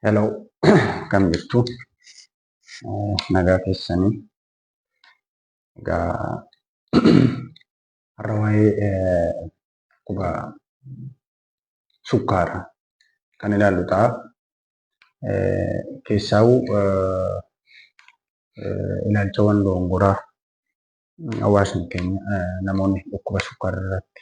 Hello, akkam jirtu? Eh, Nagaa keessanii. Egaa har'a waa'ee eh, dhukkuba sukkaara kan ilaallu ta'a. Eh, Keessaa'u eh, eh, ilaalchawwan doongoraa hawaasni keenya eh, namoonni dhukkuba sukkaara irratti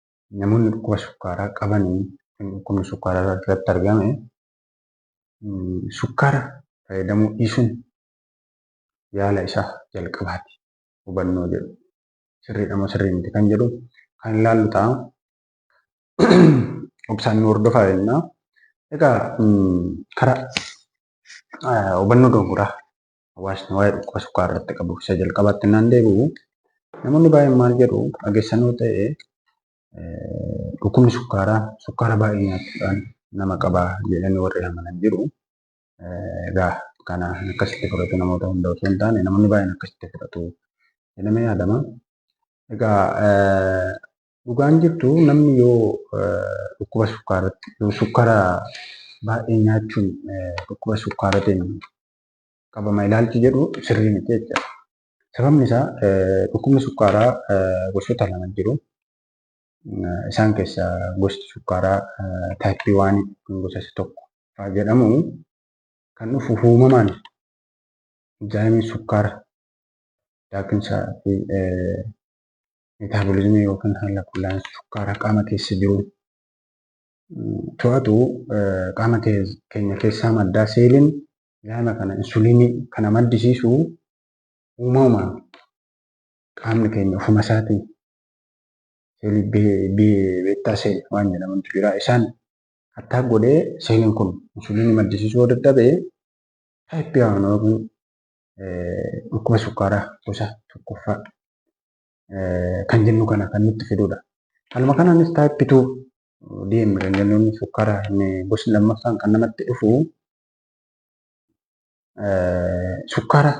namoonni dhukkuba sukkaaraa qaban kan dhukkubni sukkaaraa irratti argame sukkaara fayyadamuu dhiisuun yaala isaa jalqabaati hubannoo jedhu sirriidha moo sirrii miti kan jedhu kan ilaallu ta'a. Obsaan nu hordofaa jennaa. Egaa karaa hubannoo dogoggoraa hawaasni waa'ee dhukkuba sukkaaraa irratti qabu isa jalqabaatti naan deebi'u namoonni baay'een maal jedhu dhageessanoo ta'e dhukkubni sukkaaraa sukkaara baay'ee nyaachuudhaan nama qaba jedhanii warri amanan jiru. Egaa kana akkasitti fudhatu namoota hunda osoo hin taane namoonni baay'een akkasitti fudhatu jedhamee yaadama. Egaa dhugaan jirtu namni yoo dhukkuba sukkaaratti yoo sukkaara baay'ee nyaachuun dhukkuba sukkaaratiin qabama ilaalchi jedhu sirrii miti jechuudha. Sababni isaa dhukkubni sukkaaraa gosoota lama jiru. Isaan keessaa gosti sukkaaraa taayippii waan gosa isa tokko fa'aa jedhamu kan dhufu uumamaan inzaayimii sukkaara daakinsaa fi meetaaboliizimii yookiin haala qullaa'insa sukkaaraa qaama keessa jiru to'atu qaama keenya keessaa madda. Seeliin zaayima kana insuliinii kana maddisiisu uumamaan qaamni keenya ofuma isaatiin seelii beettaa seeli waan jedhamantu jira. Isaan hattaa godhee seeliin kun insuliinii maddisiisuu yoo dadhabe taayippii waan yookiin dhukkuba sukkaaraa gosa tokkoffaa kan jennu kana kan nutti fidudha. Haaluma kanaanis type 2 DM kan jennuun sukkaara inni gosti lammaffaan kan namatti dhufu sukkaara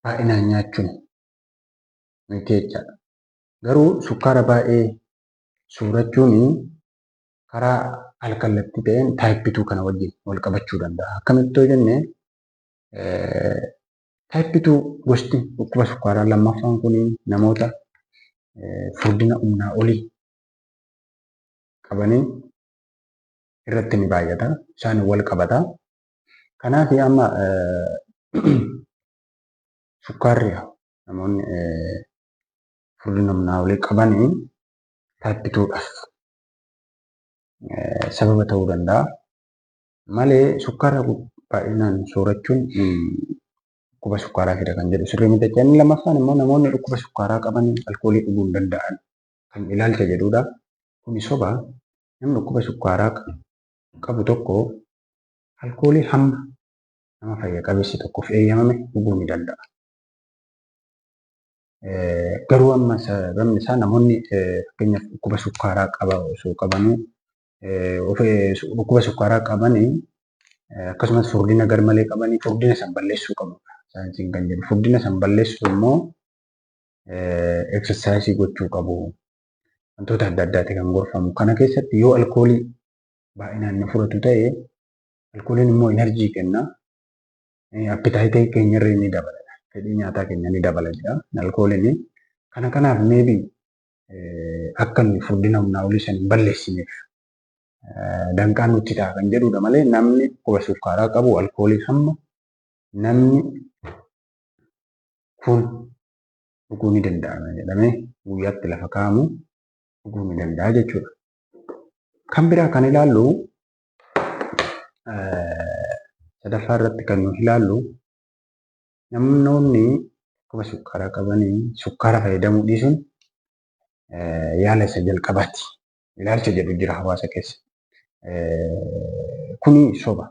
baay'inaan nyaachuun miti jechaadha. Garuu sukkaara baay'ee soorachuun karaa alkallattii ta'een type 2 kana wajjin wal qabachuu danda'a. Akkamitti yoo jenne Taayippituu gosti dhukkuba sukkaaraa lammaffaan kun namoota furdina humnaa olii qabanii irratti ni baay'ata. Isaan wal qabata. Kanaaf amma sukkaarri namoonni furdina humnaa olii qabanii taayippituudhaaf sababa ta'uu danda'a. malee sukkaara baay'inaan soorachuun dhukkuba sukkaaraa fida kan jedhu sirrii miti jechaa lammaffaan immoo namoonni dhukkuba sukkaaraa qaban alkoolii dhuguu hin danda'an kan ilaalcha jedhudha. Kuni soba namni dhukkuba sukkaaraa qabu tokko alkoolii hamma nama fayya qabeessi tokkoof eeyyamame dhuguu ni danda'a. Garuu amma sababni isaa namoonni fakkeenyaaf dhukkuba sukkaaraa qaba osoo qabanuu dhukkuba sukkaaraa qaban akkasumas furdina garmalee qaban furdina san balleessuu qabu. Saayinsiin kan jedhu furdina san balleessuu immoo eksarsaayisii gochuu qabu. Wantoota adda addaati kan gorfamu. Kana keessatti yoo alkoolii baay'inaan na fudhatu ta'e alkooliin immoo inarjii kenna. Appitaayitii keenyarree ni dabala. Fedhii nyaataa keenya ni dabala jedha alkooliin. Kana kanaaf meebii akka nuyi furdina humnaa olii sana hin balleessineef danqaan nutti ta'a kan jedhudha malee namni dhukkuba sukkaaraa qabu alkoolii hamma namni kun dhuguu ni danda'ama jedhamee guyyaatti lafa kaa'amu dhuguu ni danda'a jechuudha. Kan biraa kan ilaallu sadaffaa irratti kan nuti ilaallu Namoonni dhukkuba sukkaaraa qaban sukkaara fayyadamuu dhiisuun yaala isa jalqabaati. Ilaalcha jedhu jira hawaasa keessa. Kuni soba.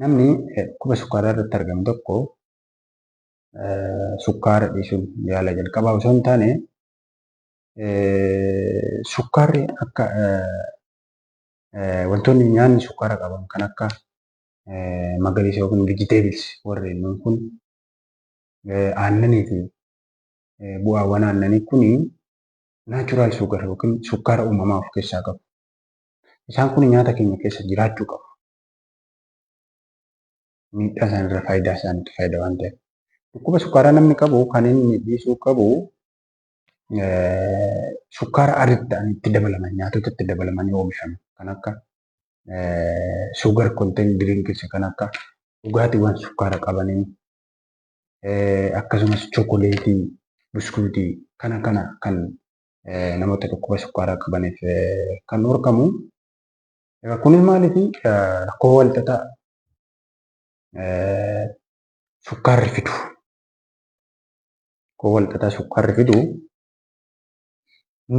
Namni dhukkuba sukkaaraa irratti argamu tokko sukkaara dhiisuun yaala jalqabaa osoo hin taane sukkaarri akka wantoonni nyaanni sukkaara qaban kan akka magariisa yookiin vegetables warreen nuun kun aannanii fi bu'aawwan aannanii kun naachuraal sugar yookiin sukkaara uumamaa of keessaa qabu. Isaan kun nyaata keenya keessa jiraachuu qabu. Miidhaa isaan irra faayidaa isaaniitu faayida waan ta'eef. Dhukkuba sukkaaraa namni qabu kan inni dhiisuu qabu sukkaara aritti ta'an itti dabalaman nyaatota itti dabalamanii oomishaman kan akka sugar content drinks kan akka dhugaatiiwwan sukkaara qabanii akkasumas chookoleetii, buskuutii kana kana kan namoota dhukkuba sukkaaraa qabaniif kan dhorkamu. Egaa kunis maaliif rakkoo walxaxaa sukkaarri fidu rakkoo walxaxaa sukkaarri fidu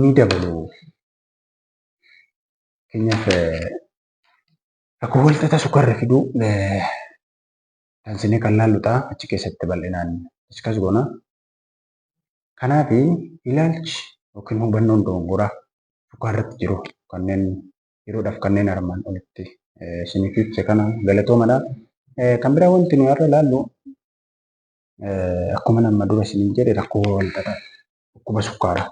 ni dabalu. Fakkeenyaaf rakkoo walxaxaa sukkaarri fiduu tansinee kan laallu ta'a achi keessatti bal'inaan diskas goona. Kanaaf ilaalchi yookiin hubannoon dogongoraa sukkaarratti jiru kanneen yeroodhaaf kanneen armaan olitti isiniif ibse kana galatoomadha. Kan biraa wanti nuyi har'a ilaallu akkuma nama dura isiniin jedhe rakkoo walxaxaa dhukkuba sukkaaraa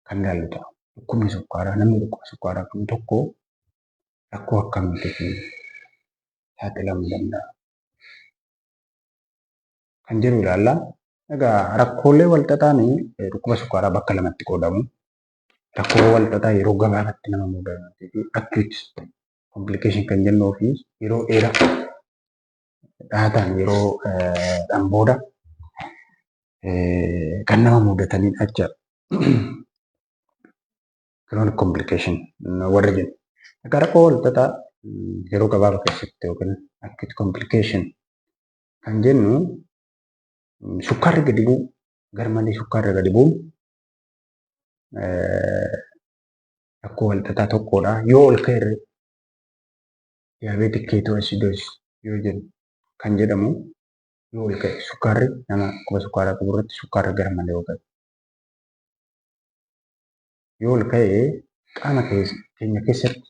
kan ilaallu ta'a. Dhukkubni sukkaaraa namni dhukkuba sukkaaraa qabu tokko rakkoo akkamiitiif saaxilamuu danda'a? Kan jedhu ilaalla. Egaa rakkoolee walxaxaan dhukkuba sukkaaraa bakka lamatti qoodamu. Rakkoo walxaxaa yeroo gabaabatti nama mudatan fi acute complication kan jennuu fi yeroo dheeraa dhaataan yeroo dhan booda kan nama mudataniin acha chronic complication warra jennu. Akka rakkoo walxaxaa yeroo gabaaba keessatti yookiin acute complication kan jennu sukkaarri gadi bu'u garmalee sukkaarri gadi bu'u rakkoo walxaxaa tokkodha. Yoo ol ka'e diabetic ketoacidosis yoo jedhu kan jedhamu yoo ol ka'e sukkaarri nama dhukkuba sukkaaraa qabu irratti sukkaarri gara malee yoo ka'e yoo ol ka'e qaama keenya keessatti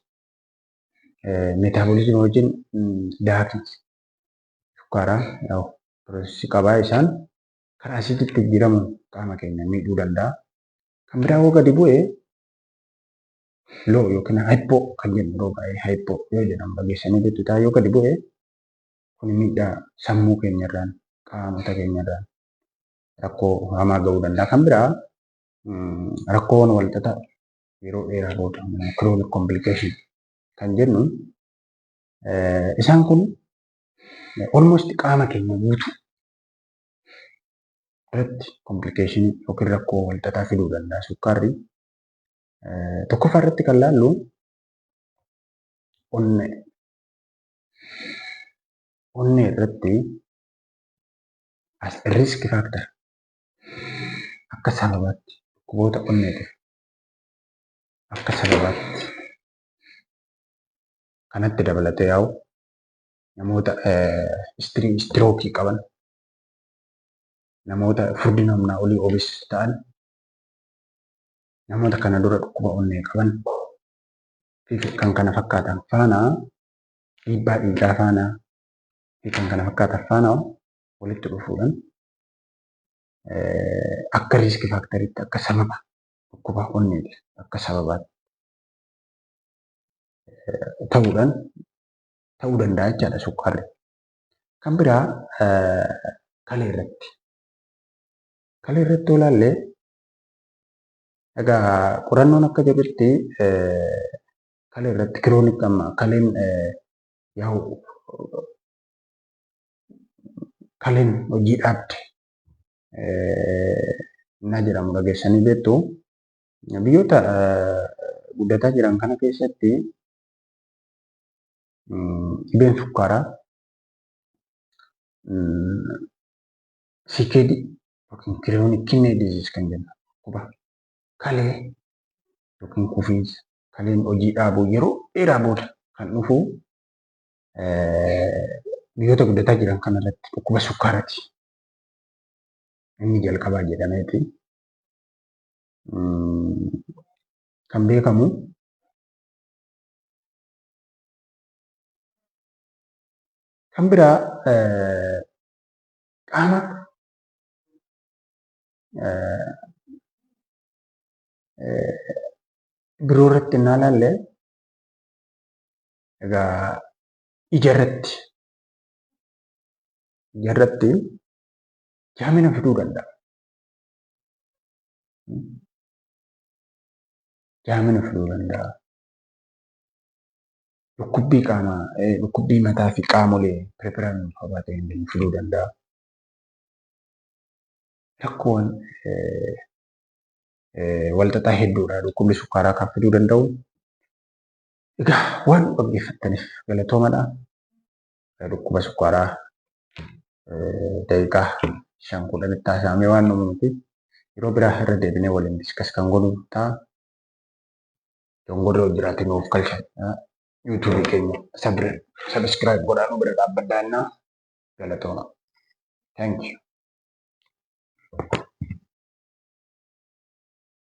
meetaaboliizimii wajjin daakii sukkaaraa piroosesii qabaa isaan karaa asiiditti jijjiiramuun qaama keenya miidhuu danda'a. Kan biraa yoo gadi bu'e loo yookiin hayippoo kan jennu yeroo baay'ee hayippoo yoo jedhan fageessanii jechuudha. Yoo gadi bu'e kun miidhaa sammuu keenyarraan qaamota keenyarraan rakkoo hamaa ga'uu danda'a. Kan biraa rakkoowwan walxaxaa yeroo dheeraa booda chronic complication kan jennu isaan kun almost qaama keenya guutuu irratti complication yookiin rakkoo walxaxaa fiduu danda'a. Sukkaarri Tokkoffaa irratti kan laallu onnee. Onnee irratti as risk factor akka sababaatti dhukkuboota onneetiif akka sababaatti kanatti dabalatee yaa'u namoota istirii istirookii qaban namoota furdina humnaa olii obis ta'an namoota kana dura dhukkuba onnee qaban fi kan kana fakkaatan faana dhiibbaa dhiigaa faana fi kan kana fakkaatan faana walitti dhufuudhaan akka riiski faaktariitti akka sababa dhukkuba onneetiif akka sababaatti ta'uudhaan ta'uu danda'a jechaadha sukkaarri. Kan biraa kalee irratti. Kalee irratti yoo ilaalle Egaa qorannoon akka jedhutti kalee irratti kiroonik amma kaleen yaa'u kaleen hojii dhaabde na jedhamu dhageessanii beektu. Biyyoota guddataa jiran kana keessatti dhibeen sukkaaraa CKD yookiin kiriyoonik kinnee diziis kan jennu dhukkuba kalee yookiin kufiinsa kaleen hojii dhaabuu yeroo dheeraa booda kan dhufu biyyoota guddataa jiran kana irratti dhukkuba sukkaarati. Inni jalqabaa jedhameeti kan beekamu kan biraa qaama biroo irratti innaa ilaalle egaa ija irratti ija irratti jaamina fiduu danda'a. Jaamina fiduu danda'a. dhukkubbii qaama dhukkubbii mataa fi qaamolee peripheraan wal qabatee hin fiduu danda'a. Rakkoowwan walxaxaa hedduudha dhukkubni sukkaaraa kan fiduu danda'u. Egaa waan dhaggeeffattaniif galatoomadha. Dhukkuba sukkaaraa daqiiqaa shan kudhanitti haasa'amee waan uumamti. Yeroo biraa irra deebinee waliin diskas kan godhu ta'a. dongorri yoo jiraate nuuf kalchan yuutuubi keenya sabiskiraayib godhaa nu bira dhaabbadhaa innaa galatooma. Thank you.